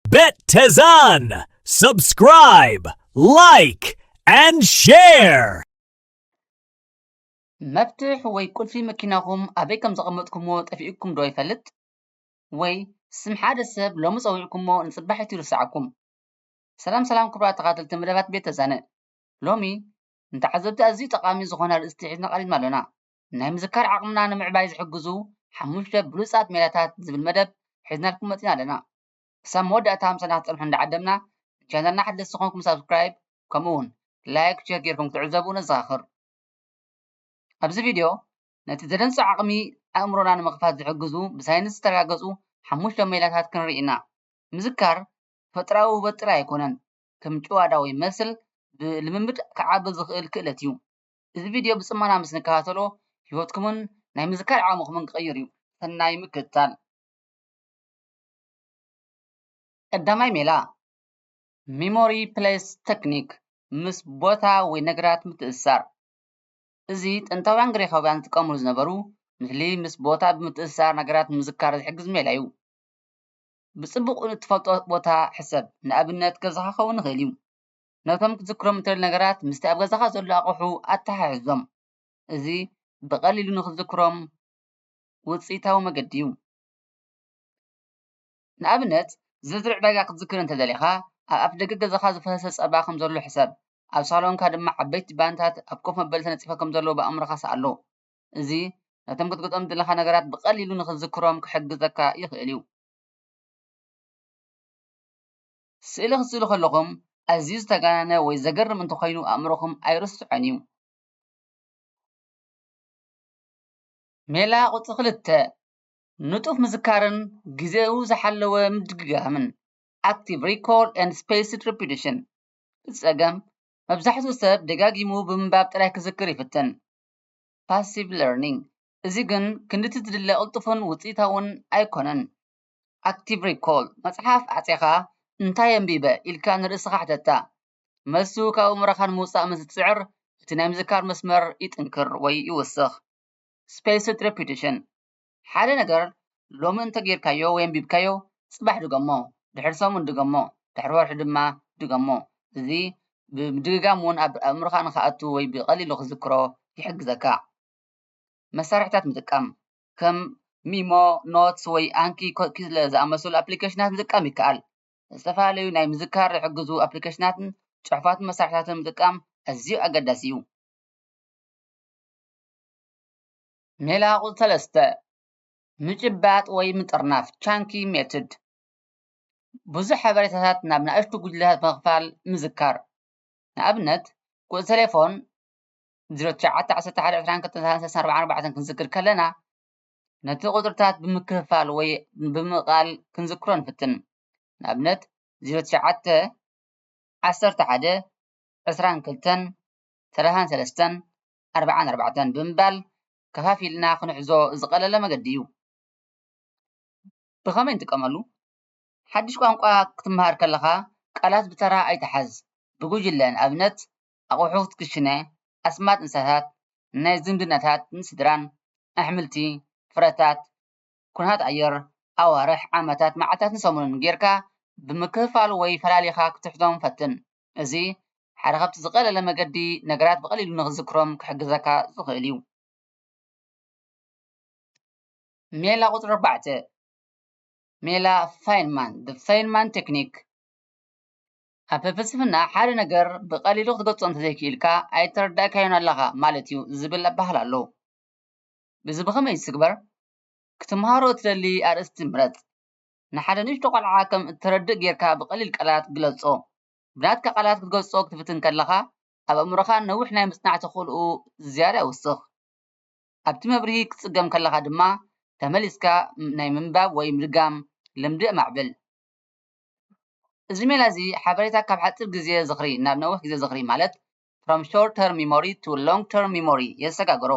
Bettezan! Subscribe! Like! And share! መፍትሕ ወይ ቁልፊ መኪናኹም ኣበይ ከም ዘቐመጥኩምዎ ጠፊኡኩም ዶ ይፈልጥ? ወይ ስም ሓደ ሰብ ሎሚ ጸዊዕኩሞ ንጽባሒቱ ይርስዓኩም? ሰላም ሰላም ክቡራት ተኻተልቲ መደባት ቤት ተዛነ ሎሚ ንተዓዘብቲ ኣዝዩ ጠቓሚ ዝኾነ ኣርእስቲ ሒዝና ቀሪብና ኣሎና። ናይ ምዝካር ዓቕምና ንምዕባይ ዝሕግዙ ሓሙሽተ ብሉጻት ሜላታት ዝብል መደብ ሒዝናልኩም መጺና ኣለና። ክሳብ መወዳእታ ምሳና ክትጸንሑ እንዳዓደምና፣ ንቻነልና ሓደስቲ ኮንኩም ሳብስክራይብ ከምኡ ውን ላይክ ሸር ጌርኩም ክትዕዘቡ ነዘኻኽር። ኣብዚ ቪድዮ ነቲ ዘደንጹ ዓቕሚ ኣእምሮና ንምኽፋት ዝሕግዙ ብሳይንስ ዝተረጋገጹ ሓሙሽተ ሜላታት ክንርኢ ኢና። ምዝካር ተፈጥራዊ ውህበት ጥራይ ኣይኮነን፣ ከም ጭዋዳ ወይ መስል ብልምምድ ክዓቢ ዝኽእል ክእለት እዩ። እዚ ቪድዮ ብጽሞና ምስ ንከታተሎ ህይወትኩምን ናይ ምዝካር ዓቕምኹምን ክቕይር እዩ። ሰናይ ምክትታል! ቀዳማይ ሜላ፣ ሚሞሪ ፕለስ ተክኒክ፣ ምስ ቦታ ወይ ነገራት ምትእስሳር። እዚ ጥንታውያን ግሪኻውያን ዝጥቀምሉ ዝነበሩ ምስሊ ምስ ቦታ ብምትእስሳር ነገራት ንምዝካር ዝሕግዝ ሜላ እዩ። ብጽቡቕ ንእትፈልጦ ቦታ ሕሰብ፣ ንኣብነት ገዛኻ ክኸውን ይኽእል እዩ። ነቶም ክትዝክሮም እትደሊ ነገራት ምስቲ ኣብ ገዛኻ ዘሎ ኣቕሑ ኣተሓሕዞም። እዚ ብቐሊሉ ንኽትዝክሮም ውጽኢታዊ መገዲ እዩ። ንኣብነት፣ ዝርዝር ዕዳጋ ክትዝክር እንተ ደሊኻ፣ ኣብ ኣፍደገ ገዛኻ ዝፈሰሰ ጸባ ከም ዘሎ ሕሰብ፣ ኣብ ሳሎንካ ድማ ዓበይቲ ባኒታት ኣብ ኮፍ መበሊ ተነጺፎም ከም ዘለዉ ብኣእምሮኻ ስኣሎ። እዚ ነቶም ክትገዝኦም እትደሊ ነገራት ብቐሊሉ ንኽትዝክሮም ክሕግዘካ ይኽእል እዩ። ስእሊ ክትስእሉ ከለኹም ኣዝዩ ዝተጋነነ ወይ ዘገርም እንተኾይኑ ኣእምሮኹም ኣይርስዖን እዩ። ሜላ ቁጽሪ ክልተ፣ ንጡፍ ምዝካርን ግዜኡ ዝሓለወ ምድግጋምን፣ Active Recall and Spaced Repetition፣ እቲ ጸገም መብዛሕትኡ ሰብ ደጋጊሙ ብምንባብ ጥራይ ክዝክር ይፍትን፣ Passive Learning፣ እዚ ግን ክንድቲ ዝድለ ቅልጡፍን ውጽኢታውን ኣይኮነን። Active Recall፣ መጽሓፍ ኣዕጺኻ እንታይ ኣንቢበ? ኢልካ ንርእስኻ ሕተታ። መልሱ ካብ ኣእምሮኻ ንምውጻእ ምስ ዝጽዕር፣ እቲ ናይ ምዝካር መስመር ይጥንክር ወይ ይውስኽ። Spaced Repetition፣ ሓደ ነገር ሎሚ እንተ ጌርካዮ ወይ ኣንቢብካዮ፣ ጽባሕ ድገሞ፣ ድሕሪ ሰሙን ድገሞ፣ ድሕሪ ወርሒ ድማ ድገሞ። እዚ ብምድግጋም እውን ኣብ ኣእምሮኻ ንኽኣቱ ወይ ብቐሊሉ ክትዝክሮ ይሕግዘካ። መሳርሒታት ምጥቃም፣ ከም ሚሞ፣ ኖትስ ወይ ኣንኪ ኮኪስለ ዝኣመሰሉ ኣፕሊኬሽናት ምጥቃም ይከኣል። ዝተፈላለዩ ናይ ምዝካር ዝሕግዙ ኣፕሊኬሽናትን ጽሑፋትን መሳርሒታትን ምጥቃም ኣዝዩ ኣገዳሲ እዩ። ሜላ ቁጽሪ ሰለስተ፣ ምጭባጥ ወይ ምጥርናፍ፣ Chunky Method፣ ብዙሕ ሓበሬታታት ናብ ንኣሽቱ ጉጅለታት ብምኽፋል ምዝካር። ንኣብነት፣ ቁጽሪ ተሌፎን፣ 091112364 ክንዝክር ከለና ነቲ ቁፅርታት ብምክፍፋል ወይ ብምቃል ክንዝክሮ ንፍትን ንኣብነት 09112234 ብምባል ከፋፊልና ክንሕዞ ዝቀለለ መገዲ እዩ። ብከመይ ንጥቀመሉ ሓዱሽ ቋንቋ ክትመሃር ከለካ ቃላት ብተራ ኣይትሓዝ ብጉጅለ ንኣብነት ኣቑሑት ክሽነ፣ ኣስማት እንስሳታት፣ ናይ ዝምድናታትን ስድራን፣ ኣሕምልቲ፣ ፍረታት፣ ኩነታት ኣየር፣ ኣዋርሕ፣ ዓመታት፣ መዓልታትን ሰሙንን ጌርካ ብምክፍፋል ወይ ፈላሊኻ ክትሕዞም ፈትን። እዚ ሓደ ካብቲ ዝቐለለ መገዲ ነገራት ብቐሊሉ ንኽትዝክሮም ክሕግዘካ ዝኽእል እዩ። ሜላ ቁጽሪ ኣርባዕተ፣ ሜላ ፋይንማን፣ The Feynman Technique፣ ኣብ ፍልስፍና ሓደ ነገር ብቐሊሉ ክትገልጾ እንተዘይክኢልካ ኣይተረዳእካዮን ኣለኻ ማለት እዩ ዝብል ኣባህላ ኣሎ። እዚ ብኸመይ ይትግበር? ክትመሃሮ እትደሊ ኣርእስቲ ምረጽ። ንሓደ ንእሽቶ ቈልዓ ከም እትረድእ ጌርካ ብቐሊል ቃላት ግለጾ። ብናትካ ቃላት ክትገልጾ ክትፍትን ከለኻ፣ ኣብ ኣእምሮኻ ነዊሕ ናይ ምጽናዕ ተኽእሎኡ ዝያዳ ይውስኽ። ኣብቲ መብርሂ ክትጽገም ከለኻ ድማ ተመሊስካ ናይ ምንባብ ወይ ምድጋም ልምዲ ኣማዕብል። እዚ ሜላ እዚ ሓበሬታ ካብ ሓጺር ግዜ ዝኽሪ ናብ ነዊሕ ግዜ ዝኽሪ ማለት from short term memory to long term memory የሰጋግሮ።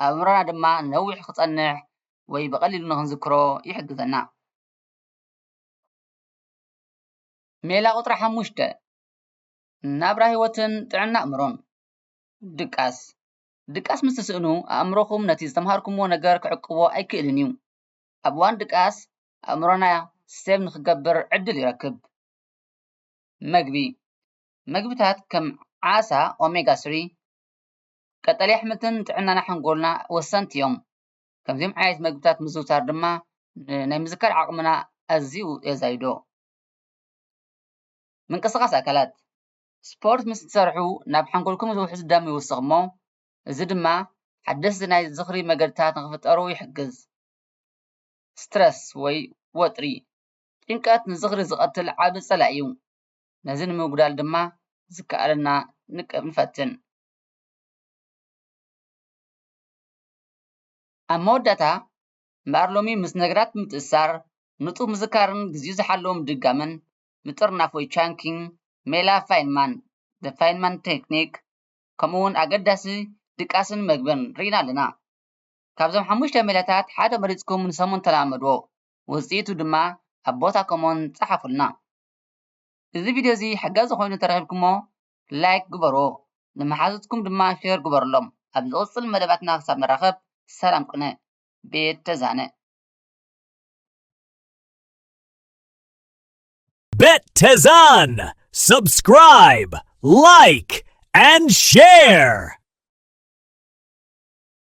ኣብ ኣእምሮና ድማ ነዊሕ ክጸንሕ ወይ ብቐሊሉ ንኽንዝክሮ ይሕግዘና። ሜላ ቁጽሪ ሓሙሽተ፣ ናብራ ህይወትን ጥዕና ኣእምሮን። ድቃስ ድቃስ ምስ ትስእኑ ኣእምሮኹም ነቲ ዝተምሃርኩምዎ ነገር ክዕቅቦ ኣይክእልን እዩ። ኣብ እዋን ድቃስ ኣእምሮና ሴቭ ንኽገብር ዕድል ይረክብ። መግቢ፣ መግብታት ከም ዓሳ፣ ኦሜጋ ስሪ፣ ቀጠልያ ኣሕምልትን ንጥዕናና ሓንጎልና ወሰንቲ እዮም። ከምዚኦም ዓይነት መግብታት ምዝውታር ድማ ናይ ምዝካር ዓቕምና ኣዝዩ የዛይዶ። ምንቅስቓስ ኣካላት፣ ስፖርት ምስ ትሰርሑ ናብ ሓንጎልኩም ዝውሕዝ ደም ይውስኽ እሞ እዚ ድማ ሓደስቲ ናይ ዝኽሪ መገድታት ንኽፍጠሩ ይሕግዝ። Stress፣ ወይ ወጥሪ፣ ጭንቀት ንዝኽሪ ዝቐትል ዓቢ ጸላኢ እዩ። ነዚ ንምጉዳል ድማ ዝከኣለና ንፈትን። ኣብ መወዳእታ እምበኣር ሎሚ ምስ ነገራት ምትእስሳር፣ ንጡፍ ምዝካርን ግዜኡ ዝሓለወ ምድጋምን፣ ምጥርናፍ ወይ Chunking፣ ሜላ ፋይንማን፣ The Feynman Technique፣ ከምኡ'ውን ኣገዳሲ ድቃስን መግብን ርኢና ኣለና። ካብዞም ሓሙሽተ ሜላታት ሓደ መሪጽኩም ንሰሙን ተለማመድዎ፣ ውጽኢቱ ድማ ኣብ ቦታ ኮሞን ጸሓፉልና። እዚ ቪድዮ እዚ ሓጋዚ ኮይኑ ተረኺብኩሞ ላይክ ግበርዎ፣ ንመሓዙትኩም ድማ ሼር ግበርሎም። ኣብ ዝቕጽል መደባትና ክሳብ ንራኸብ ሰላም ቅነ። ቤት ተዛነ። Bet Tezan! Subscribe, like, and share!